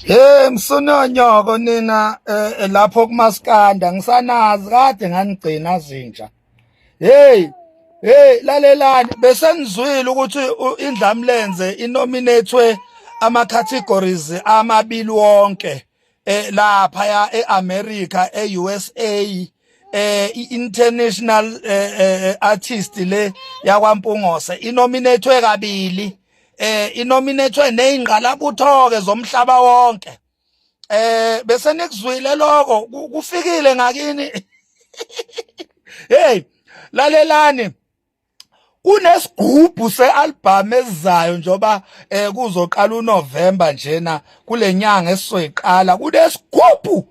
Hey msunonyoko nina eh, lapho kumaskanda ngisanazi kade nganigcina zinja. Hey hey lalelani besenizwile ukuthi indlamlenze inominatwe ama categories amabili wonke eh lapha ya eAmerica eUSA eh i-international eh, eh, artist le yakwaMpungose inominatwe kabili eh inominatwe nezingqalabutho ke zomhlaba wonke eh bese nikuzwile lokho kufikile ngakini hey lalelani kunesigubhu sealbum ezayo njoba eh, kuzoqala uNovember njena kulenyanga esizoyiqala kunesigubhu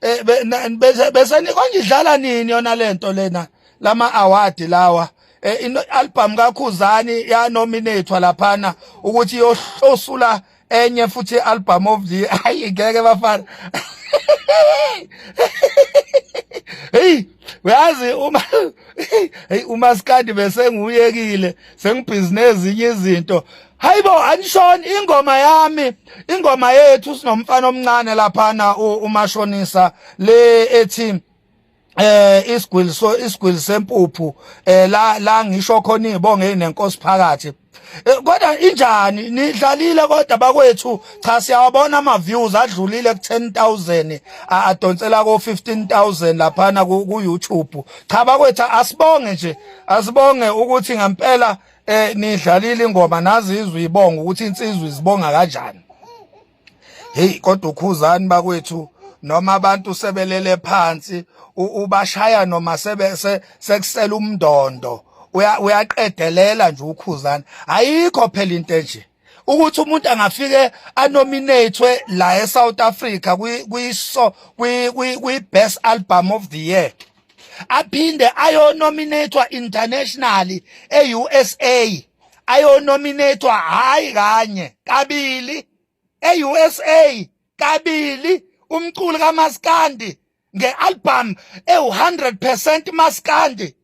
eh besenikwa ngidlala nini yona lento lena lama award lawa eh ino album kakhuzani ya nominatewa laphana ukuthi yohlosula enye futhi album of the ayi ngeke bafana hey uyazi uma hey umaskandi bese nguyekile sengibhizinezi izinto Hayibo anishoni ingoma yami ingoma yethu sinomfana omncane lapha na umashonisa le ethi eh isigwili so isigwili sempuphu eh la la ngisho khona izibonge nenkosi phakathi eh, kodwa injani nidlalile kodwa bakwethu cha siyawabona ama views adlulile ku 10000 adonsela ko 15000 lapha na ku YouTube cha bakwethu asibonge nje asibonge ukuthi ngempela eh nidlalile ingoma nazi izwe ibonga ukuthi insizwe izibonga kanjani hey kodwa ukhuzani bakwethu noma abantu sebelele phansi ubashaya noma sebe sekusela umndondo uyaqedelela nje ukhuzani ayikho phela into enje ukuthi umuntu angafike anominatwe la eSouth Africa kwiso kwi best album of the year aphinde ayonominatwa internationally eUSA ayonominatwa hayi kanye kabili eUSA kabili umculi kaMaskandi nge-album ewu-100 percent maskandi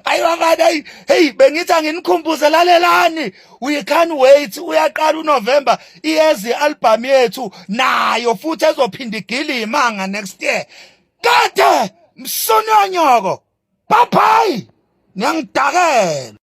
ayi bafana ayi heyi bengithi anginikhumbuze lalelani we can't wait uyaqala unovember iyeza i-albhamu yethu nayo futhi ezophinda igile imanga next year kade msonyonyoko bye bye niyangidakela